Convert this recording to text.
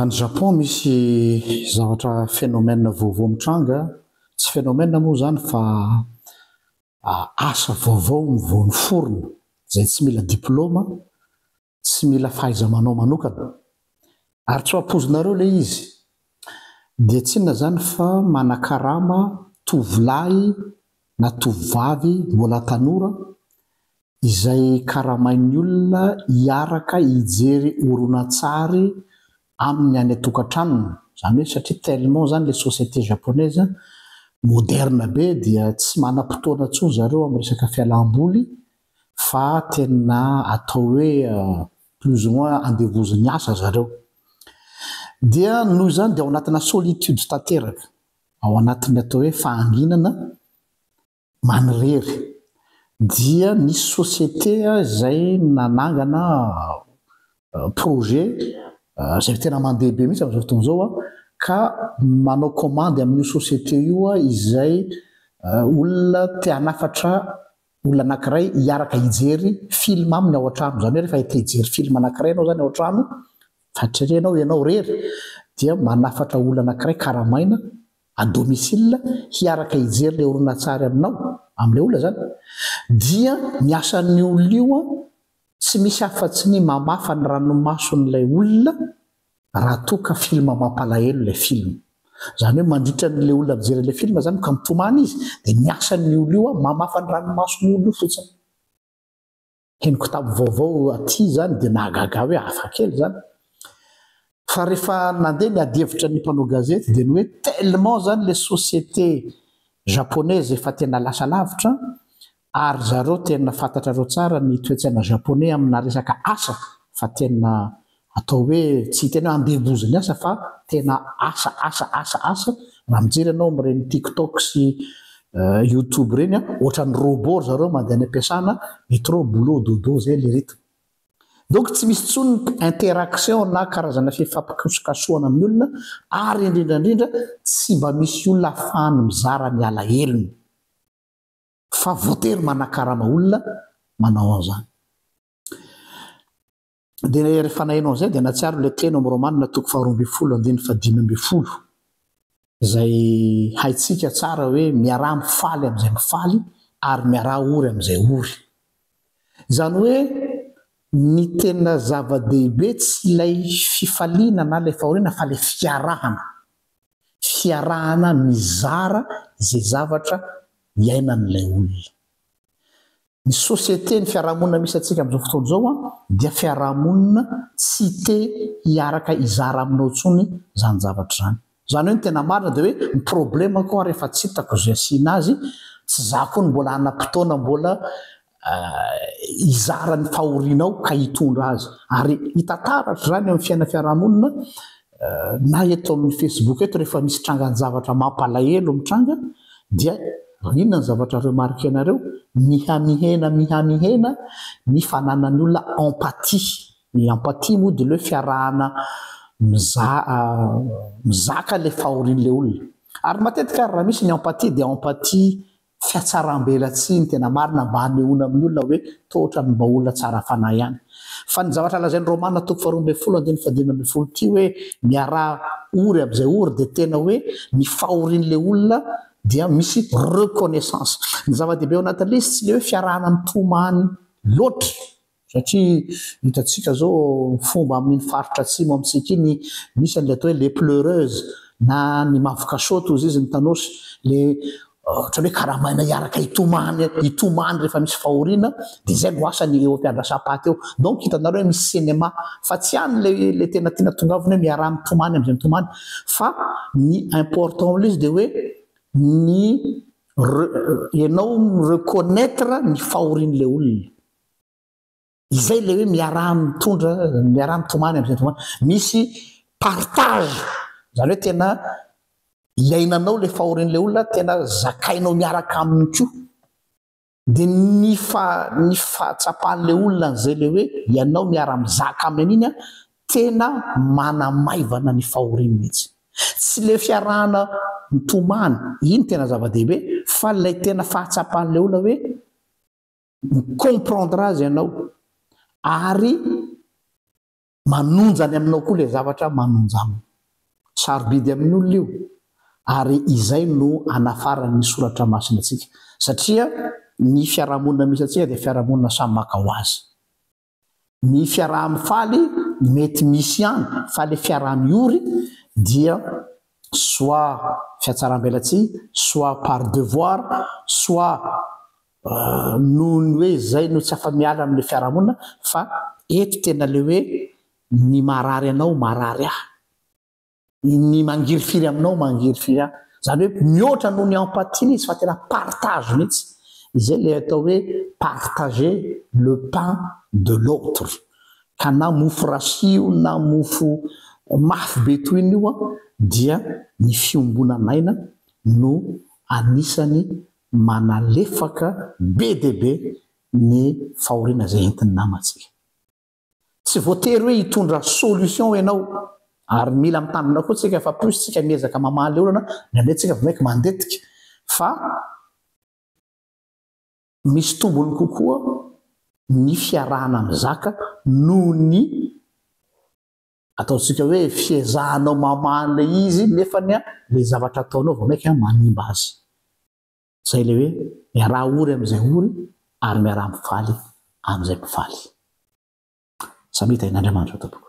Any Japon misy zavatra phénomène vaovao mitranga, tsy phénomène moa izany fa asa vaovao no vao niforona izay tsy mila diplôma, tsy mila fahaiza-manao manokana. Ary tsy ho ampoizinareo ilay izy dia tsy inona izany fa manakarama tovolahy na tovovavy mbola tanora izay karamain'ny olona hiaraka hijery horonantsary aminy any an-tokantranony, izany hoe satria tellement izany ilay société japonaise moderne be dia tsy manam-potoana intsony zareo amin'ny resaka fialam-boly fa tena atao hoe plus ou moins andevozin'ny asa zareo dia noho izany dia ao anatina solitude tanteraka, ao anatin'ny atao hoe fahanginana. Manirery. Dia nisy société izay nanangana projet izay tena mandeha be mihitsy amin'izao fotoana izao ka manao kaomandy amin'io société io izay olona te hanafatra olona anankiray hiaraka hijery film aminy ao an-trano. Izany hoe rehefa te hijery film anankiray ianao izany ao an-trano fa tsy re ianao ianao irery dia manafatra olona anankiray karamaina à domicile hiaraka hijery ilay horonantsary aminao, amin'ilay olona izany, dia ny asan'io olona io tsy misy afa-tsy ny mamafa ny ranomason'ilay olona raha toa ka film mampalahelo ilay film. Izany hoe mandritra an'ilay olona mijery an'ilay film izany ka mitomany izy dia ny asan'io olona io mamafa ny ranomason'io olona io fotsiny. henoko tamin'ny vaovao aty izany dia nahagaga ahy hoe hafakely izany. Fa rehefa nandeha ny adihevitra ny mpanao gazety dia ny hoe tellement izany ilay société japonaise efa tena lasa lavitra ary zareo tena fantatrareo tsara ny toetsaina japonais amina resaka asa fa tena Atao hoe tsy tena andeha doza ny asa fa tena asa asa asa asa, raha mijery ianao amin'ireny tiktok sy youtube ireny an, ohatran'ny robot ry zareo mandeha any am-piasana, métro boulot dodo izay ilay rythme. Donc tsy misy intsony ny interaction na karazana fifampikasokasohana amin'ny olona ary indrindra indrindra tsy mba misy olona ahafahany mizara ny alahelony fa voatery manakarama olona manao an'izany. Dia rehefa naheno an'izay dia natsiaro ilay teny ao amin'ny Romanina toko faharoa ambin'ny folo andininy fahadimy ambin'ny folo izay haintsika tsara hoe miaraha mifaly amin'izay mifaly ary miaraha ory amin'izay ory. Izany hoe ny tena zava-dehibe tsy ilay fifaliana na ilay fahoriana fa ilay fiarahana. Fiarahana mizara izay zavatra iainan'ilay olona. Ny société, ny fiarahamonina misy antsika amin'izao fotoana izao an, dia fiarahamonina tsy te hiaraka hizara aminao intsony izany zavatra izany. Izany hoe ny tena marina dia hoe ny problème ko ary efa tsy hitako izay asiana azy, tsy za ko no mbola hanam-potoana mbola hizara ny fahorianao ka hitondra azy. Ary hita taratra izany eo amin'ny fiainana fiarahamonina na eto amin'ny Facebook eto rehefa misy trangan-javatra mampalahelo mitranga dia inona ny zavatra remarquenareo? Mihamihena mihamihena ny fananan'ny olona empathie. Ny empathie moa dia le hoe fiarahana mizaka le fahorian'ilay olona. Ary matetika ary raha misy ny empathie dia empathie fiatsaram-belatsihy ny tena marina mba hanehoana amin'ny olona hoe toa ohatran'ny mba olona tsara fanahy ihany. Fa ny zavatra lazain'i Romana toko faharoa ambin'ny folo andininy fahadimy ambin'ny folo ity hoe miaraha ory amin'izay ory dia tena hoe ny fahorian'ilay olona dia misy reconnaissance. Ny zava-dehibe ao anatin'ilay izy tsy ilay hoe fiarahana mitomany loatra. Satria hitantsika izao fomba amin'iny faritra atsimo amintsika iny, misy an'ilay atao hoe les pleureuses na ny mavokasôty hozy izy ny Tanosy, ilay ohatran'ny hoe karamaina hiaraka hitomany hitomany rehefa misy fahoriana, dia izay no asany eo am-piandrasam-paty eo. Donc hitanareo hoe misy cinéma fa tsy any ilay ilay tena tiana tongavina hoe miaraha mitomany amin'izay mitomany fa ny important am'ilay izy dia hoe ny re- ianao mi-reconnaitre ny fahorian'ilay olona. Izay ilay hoe miaraha-mitondra, miaraha-mitomany amin'izay tomany. Misy partage, izany hoe tena iainanao ilay fahorian'ilay olona, tena zakainao miaraka aminy koa. Dia ny fa, ny fahatsapan'ilay olona an'izay ilay hoe ianao miara-mizaka aminy an'iny an, tena manamaivana ny fahoriany mihitsy. Tsy ilay fiarahana mitomany, iny tena zava-dehibe, fa ilay tena fahatsapan'ilay olona hoe, mi-comprendre azy ianao ary manonja any aminao koa ilay zavatra manonja aminy. Sarobidy amin'ny olona io ary izay no anafaran'ny soratra masina antsika satria ny fiarahamonina misy antsika dia fiarahamonina samy maka ho azy. ny fiaraha-mifaly mety misy ihany fa le fiaraha-miory dia soit fiatsaram-belatsihy, soit par devoir, soit noho ny hoe zay no tsy afa-miala amle fiaraha-monina fa eto tena le hoe ny marary anao marary ahy. Ny mangirifiry aminao mangirifiry ahy. Izany hoe mihoatra noho ny empathie ilay izy fa tena partage mihitsy. Izay ilay atao hoe partager le pain de l'autre. Ka na mofo rasy io na mofo mafy be toy iny io dia ny fiombonan'aina no anisany manalefaka be dia be ny fahoriana izay entin'ny namantsika. Tsy voatery hoe hitondra solution ianao ary mila mitandrina koa tsika fa plus tsika miezaka mamaly olana indraindray tsika vao maika mandetika fa misy tombony kokoa ny fiarahana mizaka noho ny ataontsika hoe fiezahanao mamaly ilay izy nefany ilay zavatra ataonao vao maika manimba azy. Izay ilay hoe miaraha ory amin'izay ory ary miaraha mifaly amin'izay mpifaly. Samy hita eny Andriamanitra tompoko.